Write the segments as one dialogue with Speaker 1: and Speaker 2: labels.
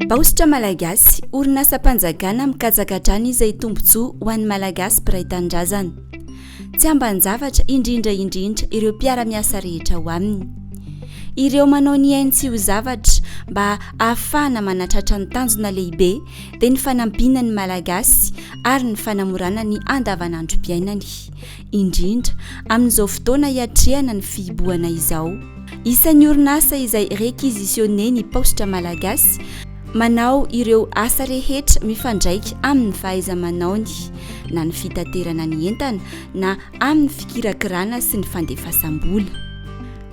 Speaker 1: Paositra Malagasy, orinasam-panjakana mikatsaka hatrany izay tombontsoa ho an'ny Malagasy mpiray tanindrazana. Tsy ambanin-javatra indrindra indrindra ireo mpiara-miasa rehetra ao aminy. Ireo manao ny ainy tsy ho zavatra mba hahafahana manatratra ny tanjona lehibe dia ny fanampiana ny Malagasy ary ny fanamorana ny andavanandrom-piainany. indrindra amin'izao fotoana hiatrehana ny fihibohana izao. Isan'ny orinasa izay requisitionné ny Paositra Malagasy manao ireo asa rehetra mifandraika amin'ny fahaiza-manaony, na ny fitaterana ny entana na amin'ny fikirakirana sy ny fandefasam-bola.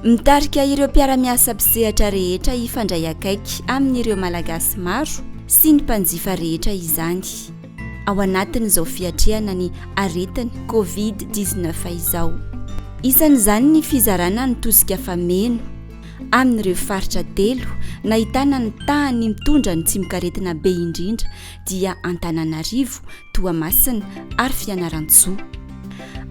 Speaker 1: Mitarika ireo mpiara-miasa mpisehatra rehetra hifandray akaiky amin'ireo Malagasy maro sy ny mpanjifa rehetra izany. ao anatin'izao fiatrehana ny aretin'ny covid dix neuf izao. Isan'izany ny fizarana ny tosika fameno amin'ireo faritra telo nahitana ny tahan'ny mitondra ny tsimokaretina be indrindra dia Antananarivo, Toamasina ary Fianarantsoa.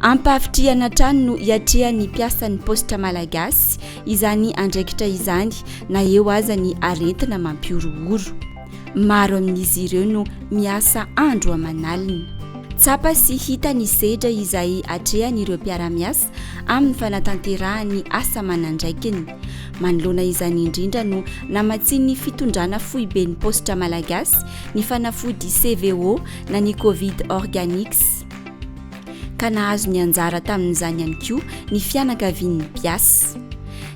Speaker 1: Ampahavitrihana hatrany no hiatrehan'ny mpiasan'ny paositra malagasy izany andraikitra izany na eo aza ny aretina mampihorohoro. Maro amin'izy ireo no miasa andro aman'alina. Tsapa sy hita ny sedra izay atrehan'ireo mpiara-miasa amin'ny fanatanterahany asa aman'andraikiny. Manoloana izany indrindra no namatsian'ny fitondrana foiben'ny paositra malagasy ny fanafody CVO na ny Covid Organics. ka nahazo ny anjara tamin'izany ihany koa ny fianakavian'ny mpiasa.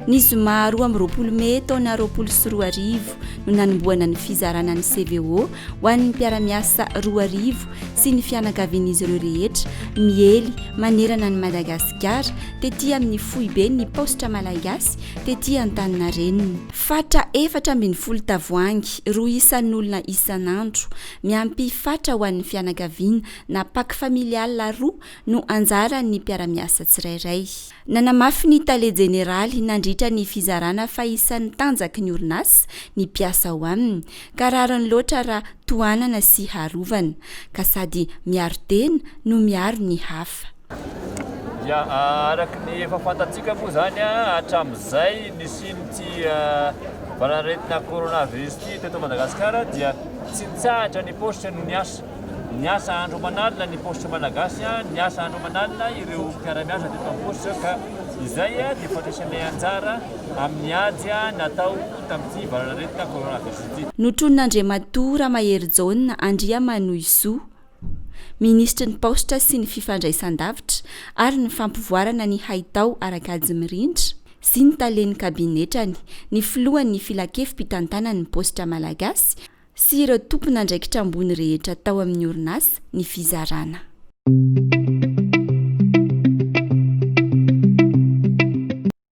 Speaker 1: Ny zoma roa amby roapolo mey taona roapolo sy roa arivo no nanombohana ny fizarana ny CVO ho an'ny mpiara-miasa roa arivo sy ny fianakavian'izy ireo rehetra miely manerana an'i Madagasikara tety amin'ny foiben'ny paositra malagasy tety Antaninarenina. Fatra efatra ambin'ny folo tavoahangy roa isan'olona isan'andro, miampy fatra ho an'ny fianakaviana. na pack familial roa no anjaran'ny mpiara-miasa tsirairay. Nanamafy ny tale jeneraly nandritra ny fizarana fa isan'ny tanjaky ny orinasa ny mpiasa ao aminy ka rariny loatra raha tohanana sy harovana, ka sady miaro tena no miaro ny hafa. Dia araka
Speaker 2: ny efa fantatsika moa izany hatramin'izay nisian'ity valanaretina coronavirus ity teto Madagasikara dia tsy nitsahatra ny paositra no niasa. Niasa andro aman'alina ny paositra malagasy, niasa andro aman'alina ireo mpiara-miasa teto amin'ny paositra ka izay dia fandraisanay anjara amin'ny ady natao tamin'ity valanaretina coronavirus ity. Notronin'Andriamatoa
Speaker 1: Ramahery Jaona Andriamanohizoa, Minisitry ny Paositra sy ny Fifandraisandavitra ary ny Fampivoarana ny Haitao Arakajy Mirindra sy ny Talen'ny Kabinetrany, ny Filohan'ny Filankevi-pitantanan'ny Paositra Malagasy sy ireo tompon'andraikitra ambony rehetra tao amin'ny orinasa ny fizarana.